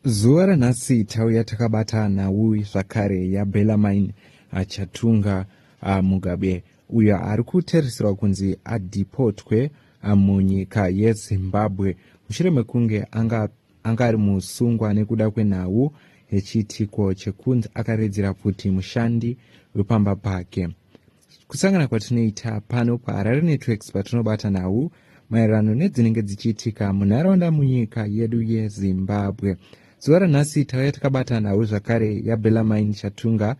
Zuva ranhasi tauya takabata nhau zvakare yaBellarmine Chatunga ah, Mugabe uyo ari kutarisirwa kunzi adhipotwe ah, munyika yeZimbabwe mushure mekunge anga, anga ari musungwa nekuda kwenhau yechiitiko chekunzi akaredzera pfuti mushandi wepamba pake. kusangana kwatinoita pano paharare networks patinobata nhau maererano nedzinenge dzichiitika munharaunda munyika yedu yezimbabwe zuva ranhasi tauya takabata nhau zvakare yabelamain chatunga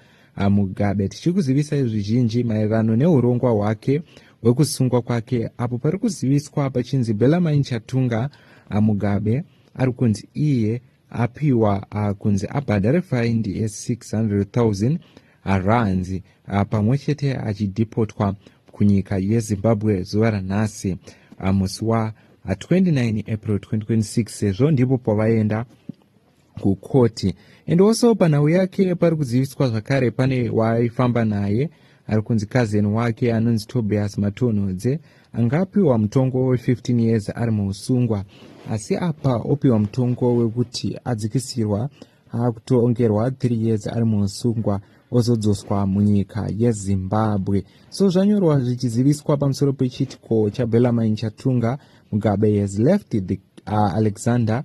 mugabe tichikuzivisa zvizhinji maererano neurongwa hwake hwekusungwa kwake apo pari kuziviswa pachinzi belamain chatunga mugabe ari kunzi iye apiwa uh, kunzi abhadhare faindi ye 600,000 rands uh, pamwe chete achidhipotwa kunyika yezimbabwe zuva ranhasi uh, musi wa uh, 29 april 2026 sezvo ndipo pavaenda kukoti and also panhau yake pari kuziviswa zvakare pane waaifamba naye ari kunzi kazeni wake anonzi tobias matonhodze anga apiwa mutongo we15 years ari muusungwa asi apa opiwa mutongo wekuti adzikisirwa akutongerwa 3 years ari muusungwa ozodzoswa munyika yezimbabwe so zvanyorwa zvichiziviswa pamusoro pechitiko chabelamain chatunga mugabe has left the uh, alexander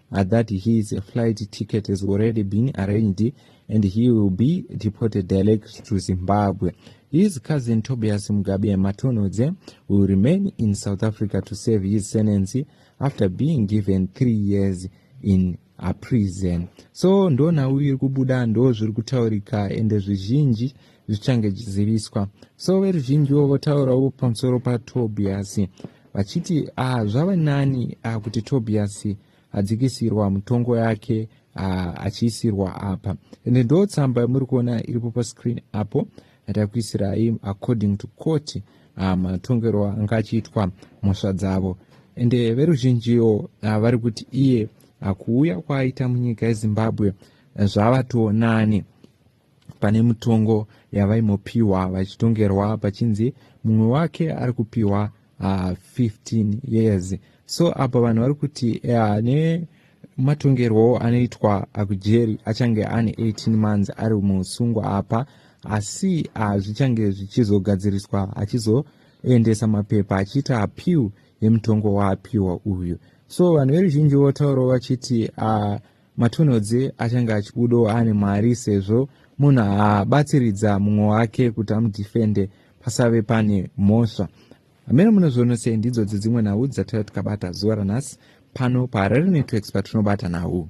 uh, that his flight ticket has already been arranged and he will be deported direct to Zimbabwe. His cousin Tobias Mugabe Matonodze will remain in South Africa to serve his sentence after being given three years in a prison. So ndona uyu kubuda ndo zviri kutaurika ende zvizhinji zvichange zvichiziviswa so veruzhinjiwo votaurawo pamusoro patobiyasi vachiti ah, zvava nani ah, kuti tobiyasi adzikisirwa mutongo yake ah, achiisirwa apa ende ndo tsamba yamuri kuona iripo pascreen apo atakuisirai according to court ah, matongerwo anga achiitwa mhosva dzavo ende veruzhinjiwo ah, vari kuti iye ah, kuuya kwaaita munyika yezimbabwe zvava tonani Pane mutongo yavaimopiwa vachitongerwa pachinzi mumwe wake ari kupiwa uh, ah, 15 years so apa vanhu vari kuti uh, ne matongerwo anoitwa akujeri achange ane 18 months ari muusungwa apa asi uh, zvichange zvichizogadziriswa achizoendesa mapepa achiita apiw yemutongo waapiwa uyu so vanhu veruzhinji votaurawo vachiti uh, Matonhodzi achange achibudawo ane mwari sezvo munhu abatsiridza mumwe wake kuti amudhifende pasave pane mhosva hameno munozviona sei ndidzo dzedzimwe nhau dzataiva tikabata zuva ranhasi pano paharare networks patinobata nhau